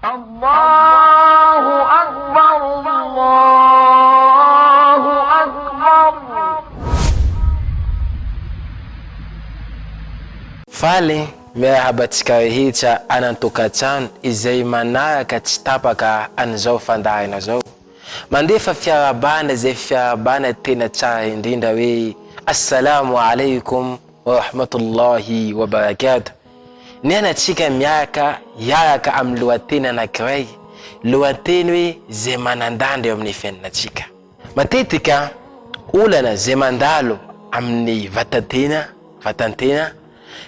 Allahu Akbar Allahu Akbar. Faly miarahaba antsika rehetra any an-tokantrano izay manaraka tsy tapaka an'izao fandaharana izao. Mandefa fiarahabana izay fiarahabana tena tsara indrindra hoe Assalamu Alaikum Wa Rahmatullahi Wa Barakatuh. Mianatsika miaraka hiaraka amin'ny lohateny anankiray, lohateny hoe izay manan-danja eo amin'ny fiainantsika. Matetika olana izay mandalo amin'ny vatan-tena, vatan-tena,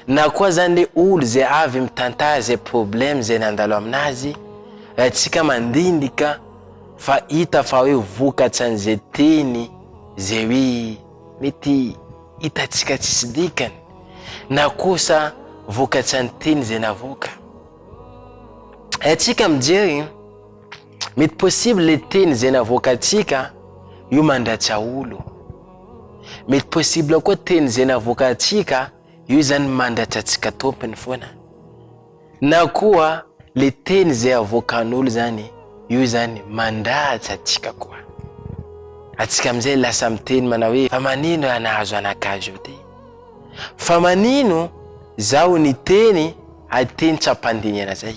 na koa zany le olo izay avy mitantara izay problème izay nandalo aminazy, raha tsika mandinika fa hita fa hoe vokatsan'izay teny izay hoe Mety hitantsika tsisy dikany na kosa vokatran'ny teny izay navoaka. Haintsika mijery, mety possible le teny izay navoakantsika io mandratra olo. Mety possible koa teny izay navoakantsika io izany mandratra antsika tompony foana. Na koa le teny zay avoakan'olo zany io zany mandratsy atsika koa. Atsika amizay lasa miteny manao hoe fa manino raha nahazo anak'azy io ty? Fa manino zaho niteny ateny tsy ampandinihana zay?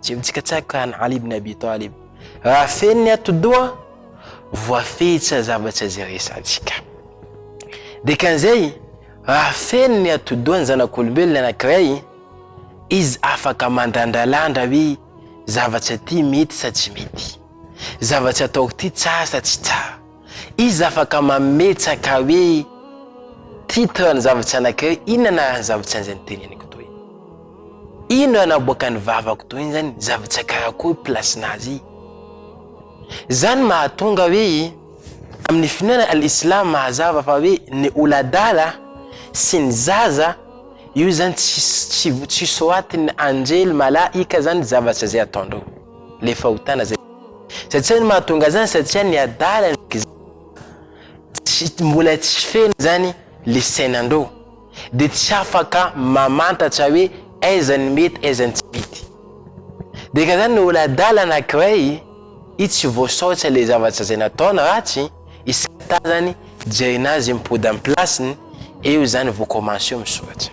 Tsy mitsikatsako ka an'i Ali ibn Abi Talib. Raha feno ny atidoha, voafehy tsy hazava tsy hazeresantsika. Dikan'izay, raha feno ny atidoha ny zanak'olombelona anankiray, izy afaka mandandralandra hoe zavatra ity mety sa tsy mety, zavatra ataoko ity tsara sa tsy tsara. Iza afaka mametsaka hoe titre ny zava-tsy anankiray, inona anaran'ny zava-tsy an'izay noteneniko toy? Inona naboakan'ny vavako toy izany? Zava-tsy akarakory place-na azy. Izany mahatonga hoe amin'ny finoana al-islam mazava fa hoe ny oladala sy ny zaza io izany tsy tsy soatin'ny anjely, malaika izany zavatra izay ataondreo. le fahotana zay satsia ny mahatonga azy zany satsia ny adala tsy mbola tsy feno zany le sainandreo de tsy afaka mamantatra hoe aiza ny mety aiza ny tsy mety de ka zany olo adala anakiray i tsy voasaotra le zavatra zay nataony ratsy isata zany jerena azy mipody am plasiny eo zany vao commence misoratra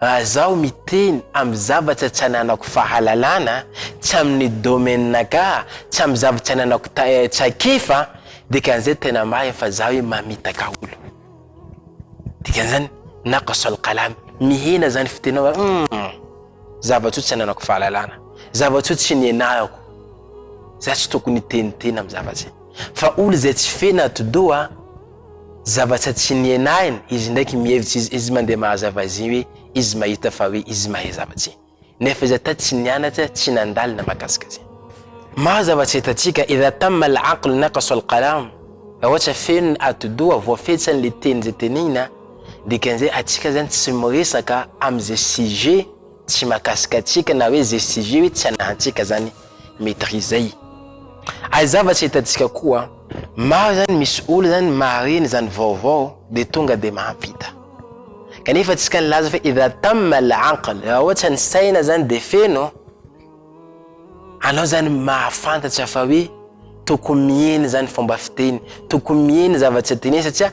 Raha zaho miteny amin'ny zavatra tsy ananako fahalalana, tsy amin'ny domaine-naka, tsy amin'ny zavatra tsy ananako traikefa, dikan'izay tena marina fa zaho hoe mamitaka olo. Dikan'izany, naqs al-qalam, mihena zany fitenaova, humm, zavatra io tsy ananako fahalalana, zavatra io tsy nianarako, za tsy tokony hiteniteny amin'ny zavatra zay. Fa olo zay tsy feno atidoha, Zavatra tsy nihenahiny, izy ndraiky mihevitra izy izy mandeha mahazava azy hoe izy mahita fa hoe izy mahay zavatra nefa izy ata tsy nianatra tsy nandalo na makasika azy. Maro zavatra hitantsika idha tamma al aql naqasa al qalam raha ohatra feno ny atidoha voafetsany le teny zay tenenina dikan'izay atsika zany tsy miresaka am'ze sujet tsy makasika atsika na hoe ze sujet hoe tsy anahantsika zany maîtriser. Ary zavatra hitantsika koa, maro zany misy olo zany mahareny zany vaovao de tonga de mahampita. Kanefa antsika nilaza fa idha tamma al-aql, raha ohatra ny saina zany de feno, anao zany mahafantatra fa hoe tokony mihena zany fomba fiteny, tokony mihena zavatra teneny satria,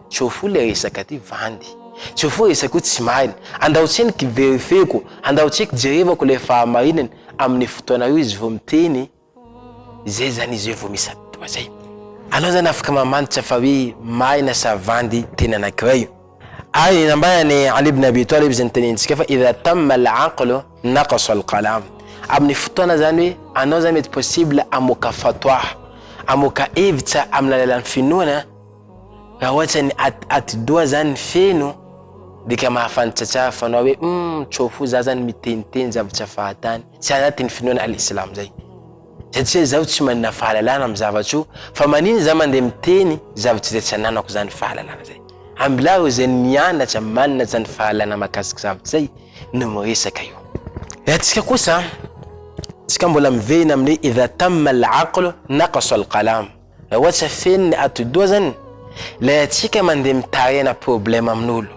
Tsy ho fohy le resaka ty vandy. Tsy ho fohy resaka io tsy marina. Andao tsiny ki verifieko, andao tsiny kijerevako le fahamarinany aminy fotoana io izy vo miteny zay zany izy eo vo misy atoa zay. Anao zany afaka mamantatra fa hoe marina sa vandy teny anakiray. Ary ny nambarany Ali ibn Abi Talib zay nitenentsika fa idha tamma al aqlu naqasa al qalam. Aminy fotoana zany hoe anao zany mety possible hamoaka fatwa, hamoaka hevitra aminy alalan'ny finoana, Raha ohatra ny at, atidoha zany feno dia ka mahafantatra tsara fanao hoe hum tsao fo za zany miteniteny zavatra fahatany tsy anatin'ny finoana Al-Islam zay. Satria zaho tsy manana fahalalana amin'ny zavatra io fa manina za mandeha miteny zavatra izay tsy ananako zany fahalalana zay. Ambilaro izay nianatra manana zany fahalalana mahakasika zavatra zay no miresaka io. Raha antsika kosa, antsika mbola miverina amin'ny hoe idha tamma al-aqlu naqasa al-qalam. Raha ohatra feno ny atidoha zany, ilay antsika mandeha mitahena problème amin'olo,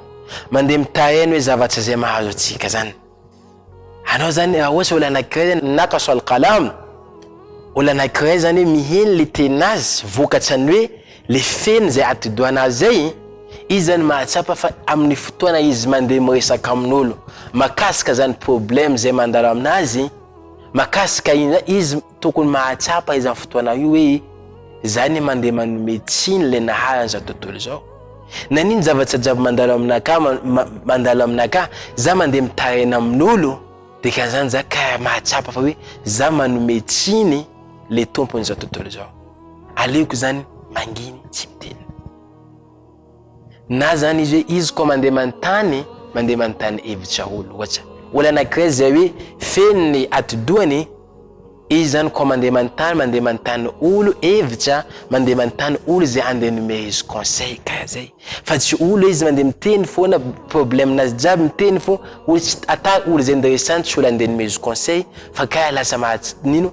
mandeha mitahena hoe zavatra zay mahazo antsika zany. Anao zany raha ohatra olo anakiray zany nakaso alqalam, olo anakiray zany hoe miheno le tenazy vokatran'ny hoe le feno zay atidohanazy zay, izy zany mahatsapa fa amin'ny fotoana izy mandeha miresaka amin'olo makasika zany problème zay mandalo aminazy, makasika iny zany izy Tokony mahatsapa izany fotoana io hoe izaho anie mandeha manome tsiny ilay naharana izao tontolo izao. Na inona zavatra jiaby mandalo aminakà, mandalo aminakà, izaho mandeha mitaraina amin'olo, dia ka izany izaho ka mahatsapa fa hoe izaho manome tsiny ilay tompon'izao tontolo izao. Aleoko izany manginy tsy miteny. na zany izy hoe izy koa mandeha manontany mandeha manontany hevitra olo ohatra olo anankiray izay hoe feno ny atidohany izy zany koa mandeha manontany mandeha manontany olo hevitra mandeha manontany olo izay andeha nomea izy conseil karaha zay fa tsy olo izy mandeha miteny foana problème nazy jiaby miteny fo olo tsy ata olo izay nderesany tsy olo andeha nomea izy conseil fa karaha lasa mahatsinino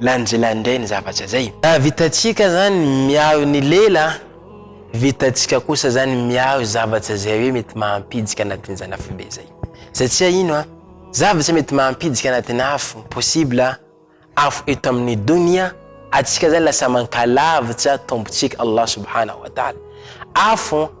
lanjila indray ny zavatra zay. Raha vitantsika zany miaro ny lela, vitantsika kosa zany miaro zavatra zay hoe mety mahampijika anatin'izany afobe zay. Satria ino a, zavatra mety mahampijika anatin'ny afo, possible afo eto amin'ny donia, atsika zany lasa mankalavitra tompontsika Allah subhanahu wa ta'ala. Afo.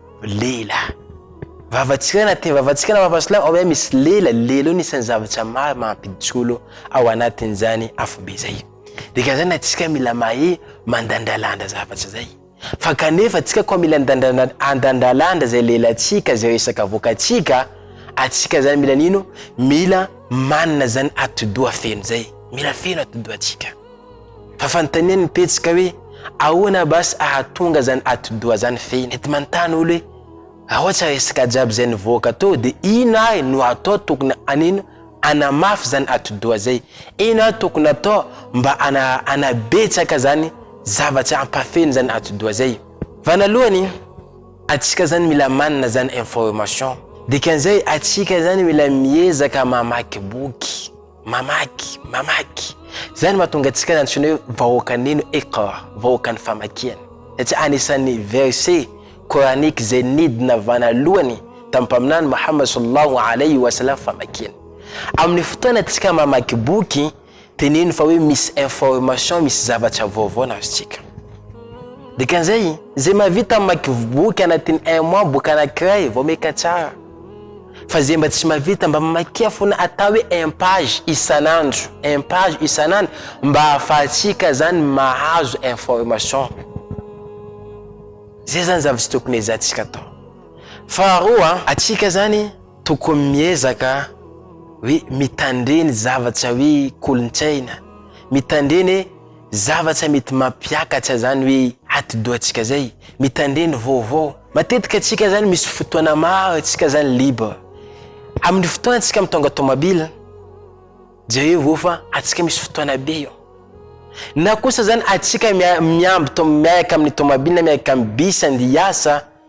Lela. Vavantsika na te vavantsika na vavansolahy ao misy lela, lela io nisy ny zavatra maro mampijolo ao anatin'izany afobe izay. Dikan'izany antsika mila mahay mandandralandra zavatra izay. Fa kanefa antsika koa mila andandralandra izay lelantsika, izay resaka avoakantsika, antsika izany mila nino, mila manana izany atidoha feno izay, mila feno atidohantsika. Fa fanontaniany ny pejy ka hoe ahoana basy ahatonga zany atidoha zany fehiny. Mety manontany olo hoe raha ohatra resaka jiaby zay nivoaka teo de ino ary no atao tokony anino anamafy zany atidoha zay. Ino ary tokony atao mba ana anabetsaka zany zavatra ampafeno zany atidoha zay. Vanalohany atsika zany mila manana zany information. Dikan'izay atsika zany mila miezaka mamaky boky. Mamaky, mamaky. Izay no mahatonga antsika nantsoina hoe vahoakan'ino? Iqra, vahoakan'ny famakiana. Satria anisan'ny verset coranique izay nidina vanalohany tamin'ny Mpaminany Mohammed sallallahu alayhi wa sallam famakiana. Amin'ny fotoana antsika mamaky boky, teneno fa hoe misy information, misy zavatra vaovao nazontsika. Dikan'izay, izay mahavita mamaky boky anatin'ny un mois boky anankiray vao maika tsara. Fa zay mba tsy mavita mba mamakia fona atao hoe un page isan'andro un page isan'andro mba ahafahantsika zany mahazo information. Zay zany zavatra tokony hezahantsika atao. Faharoa, atsika zany tokony miezaka hoe mitandre ny zavatra hoe kolontsaina, mitandre ny hoe. Zavatra mety mampiakatra zany hoe atidohantsika zay, mitandre ny vaovao. Matetika antsika zany misy fotoana maro antsika zany libre. Amin'ny fotoana antsika mitondra tomabila, jerevo eo fa antsika misy fotoana be eo. Na kosa zany antsika miamby miaraka amin'ny tomabila na miaraka amin'ny bus andeha hiasa,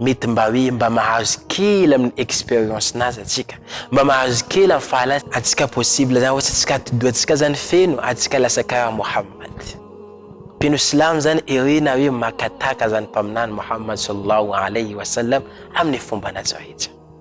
mety mba hoe mba mahazo kely amin'ny expérience nazy atsika mba mahazo kely amin'ny fahalasy atsika possible zany ohatsy atsika atidoha atsika zany feno atsika lasa karaha Mohammad mpino silamo zany ere na hoe makataka zany mpaminany Mohammad sallahu alayhi wa sallam amin'ny fomba nazy rehetra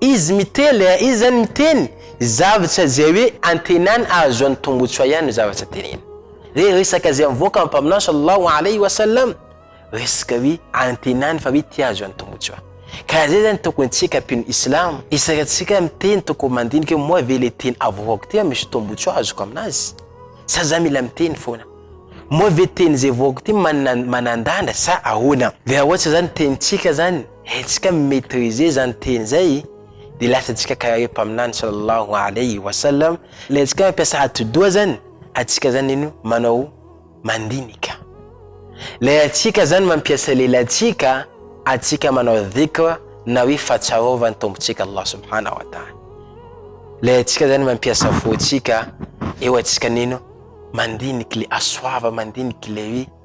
Izy miteny eh, izy zany miteny zavatra zay hoe antenany ahazoany tombotsoa ihany ny zavatra teneny. Re resaka zay mivoaka amin'ny Mpaminany sallallahu alaihi wa sallam, resaka hoe antenany fa hoe tia ahazoany tombotsoa. Ka zay zany tokony tsika mpino islamo, isaka tsika miteny tokony mandinika hoe moa ve le teny avoakako ty an misy tombotsoa azoko aminazy? Sa za mila miteny foana? Moa ve teny zay voako ty manana manandanja sa ahoana? Dia ohatra zany tenintsika zany, haintsika mi-maitriser izany teny izay dia lasantsika karaha ireo mpaminany sallallahu alaihi wa sallam, ilay antsika hoe mampiasa atidoha izany antsika izany iny manao mandinika, ilay antsika izany mampiasa lelantsika antsika manao dhikr na hoe fahatsiarovana ny Tompontsika Allah subhana wa ta'ala, ilay antsika izany mampiasa fontsika eo antsika nino mandinika ilay aswava, mandinika ilay hoe.